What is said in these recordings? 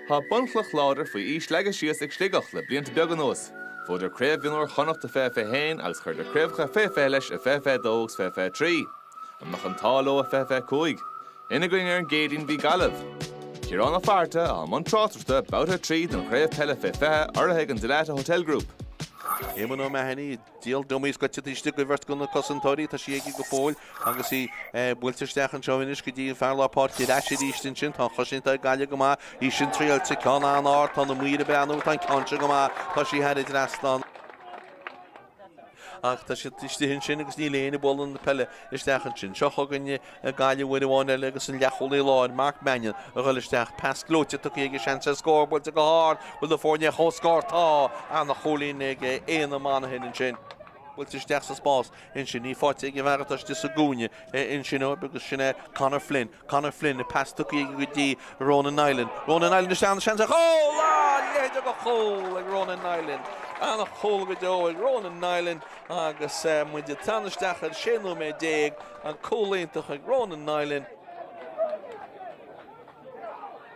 Tá bunchloch láidir faoi aois leagtha síos ag Sligeach le blianta beaga anuas. Bhuadar Craobh Mhionúir Chonnacht i fiche fiche haon agus chuireadar craobhacha faoi fiche leis i fiche fiche dó agus fiche fiche trí. An mbeadh an t-ádh leo i fiche fiche cúig? Ina gcoinne ar an gCéadaoin bhí Gaillimh. Ciarán Ó Fátharta atá i mbun tráchtaireachta babhta a trí den chraobh peile faoi fiche urraithe ag an Dalata Hotel Group. Éamonn O'Mahony, Díol dummy is gaite taobh istigh de bheirt de na cosantóirí, tá sí aige go fóill agus í buailte isteach anseo anois go dtí an fear lár páirce ar ais arís ansin. Tá an chosaint ag Gaillimh go maith, í sin triailte, ceann an-ard, tá na maoir ag breathnú, tá an ceann seo go maith, tá sí thar an trasnán. Ach tá siad istigh ansin agus níl éinne ag bualadh na peile isteach ansin. Seo chugainne ag Gaillimh uair amháin eile agus an leathchúlaí láir Mark Mannion a ghoil isteach, pas gleoite tugtha aige, seans ar scór buailte go hard, bhfuil na foirne ar comhscór? Tá! An-chúilín ag Éanna Monaghan ansin. Buailte isteach sa spás ansin, í faighte ag an bhfear atá istigh sa gcúinne ansin agus sin é Conor Flynn. Conor Flynn, pas tugtha aige go dtí Ronan Niland. Ronan Niland isteach agus seans ar chúl! A leithéid de chúl ag Ronan Niland! An-chúl go deo ag Ronan Niland agus muid ag teannadh isteach ar 16 nóiméad. An cúl iontach ag Ronan Niland.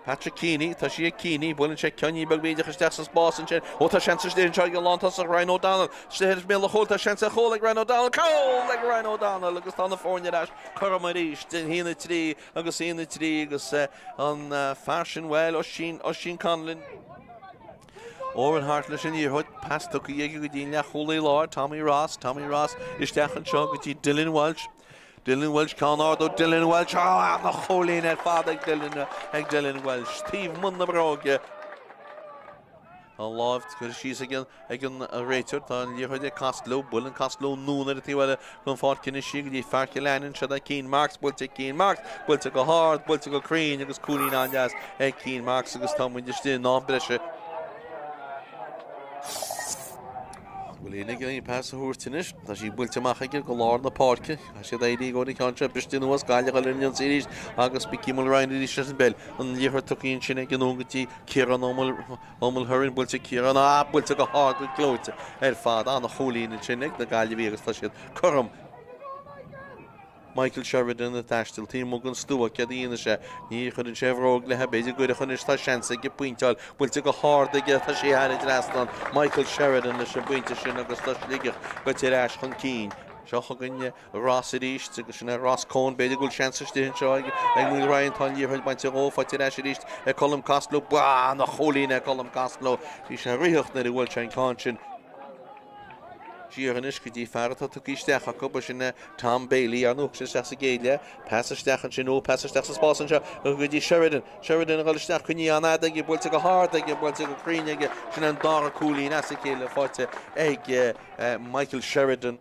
Patrick Keaney, tá sí ag Keaney, buaileann sé ceainnín beag bídeach isteach sa spás ansin, ó tá seans istigh anseo ag an lántosach Ryan O'Donnell, istigh ar bhéal an chúil, tá seans ar chúl ag Ryan O'Donnell, cúl ag Ryan O'Donnell agus tá na foirne ar ais cothrom arís, 1-3 agus 1-3 agus an fear sin, bhuel, Oisín, Oisín Conlon. Oran Harte leis an liathróid, pas tugtha aige go dtí an leathchúlaí láir, Tommy Ross, Tommy Ross, isteach anseo go dtí Dillon Walsh, Dillon Walsh, ceann ard ó Dillon Walsh, á, an-chúilín ar fad ag Dillon, ag Dillon Walsh, taobh amuigh na bróige. Tá an láimh curtha síos ag an, ag an réiteoir, tá an liathróid ag Costello, buaileann Costello anonn ar an taobh eile, den pháirc anois í go dtí fear Chill Ainnín, sí ag Cian Marks, buailte ag Cian Marks, buailte go hard, buailte go cruinn agus cúilín an-deas ag Cian Marks agus tá muid istigh in am breise. Bhfuil éinne ag iarraidh pas a thabhairt anois, tá sí buailte amach aige go lár na páirce, caithfidh siad éirí i gcomhair an cheann seo briste anuas, Gaillimh ag goil ar an ionsaí arís agus Mikey Mulryan arís leis an bpeil, an liathróid tugtha ansin aige anonn go dtí Ciarán Mulhern buailte ag Ciarán, buailte go hard go gleoite ar fad an-chúilín ansin ag na Gaillimhigh agus tá siad cothrom. Michael Sheridan ag taisteal taobh amuigh den stua céard a dhéanfaidh sé. Ní chuireann sé a bhróg léi b'fhéidir go gcuirfeadh anois tá seans aige pointeáil buailte go hard aige tá sé thar an trasnán Michael Sheridan leis an bpointe sin agus tá Sligeach gaite ar ais chun cinn. Seo chugainne Ross arís, agus sin é, Ross Coen, b'fhéidir go bhfuil seans istigh anseo ag Noel Ryan, tá an liathróid bainte uaidh, faighte ar ais arís ag Colm Costello, ó a chúilín ag Colm Costello, bhí sé ag rith nuair a bhuail sé an ceann sin. Siar anois go dtí fear atá tugtha isteach acu, ba sin é Tom Bailey, an uair a tháinig sé isteach sa gcéad leath, pas isteach ansin, ó, pas isteach sa spás anseo, go dtí Sheridan, Sheridan a dhul isteach, coinnithe an-fhada aige, buailte go hard aige, buailte go cruinn aige, sin é an dara cúilín as a chéile faighte ag Michael Sheridan.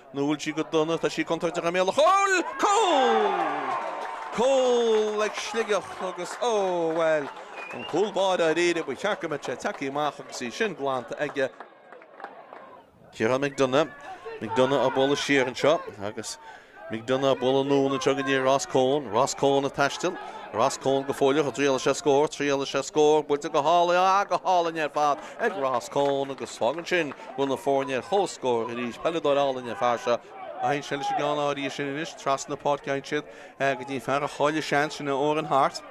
Buailte go dona, tá sí contúirteach i mbéal an chúil! Cúl! Cúl! ag Sligeach agus, ó, bhuel, an cúl báire dáiríre, ba cheart go mbeadh sé tagtha amach agus í sin glanta aige. Ciarán McDonagh, McDonagh á bualadh siar anseo agus McDonagh á bualadh anonn anseo go dtí Ross Coen, Ross Coen ag taisteal, Ross Coen go fóilleach, an dtriailfidh sé scór, thriail sé scór, buailte go hálainn, ah, go hálainn ar fad! ag Ross Coen agus fágann sin go bhfuil na foirne ar comhscór arís peileadóir álainn an fear seo. D'aithin sé leis an gceann arís sin anois trasna páirce d'aithin siad go dtí an fear a chaill an seans sin Eoin Hart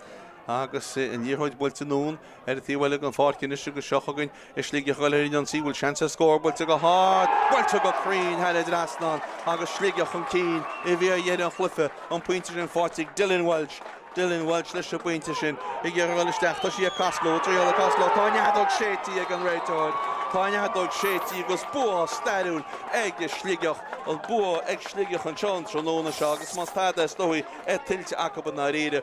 agus an liathróid buailte anonn ar an taobh eile den pháirc anois agus seo chugainn Sligeach ag gabháil ar an ionsaí bhfuil seans ar scór buailte go hard buailte go cruinn thar an dtrasnán agus Sligeach chun cinn i bhfíordheireadh an chluiche an pointe sin faighte ag Dylan Walsh Dylan Walsh leis an bpointe sin ag iarraidh a dhul isteach. Tá sí ag Costello, triail ag Costello. Tá an fheadóg séidte ag an réiteoir. Tá an fheadóg séidte agus bua stairiúil ag Sligeach. An bua ag Sligeach anseo an tráthnóna seo agus más tada is dóigh tá sé tuillte acu i ndáiríre.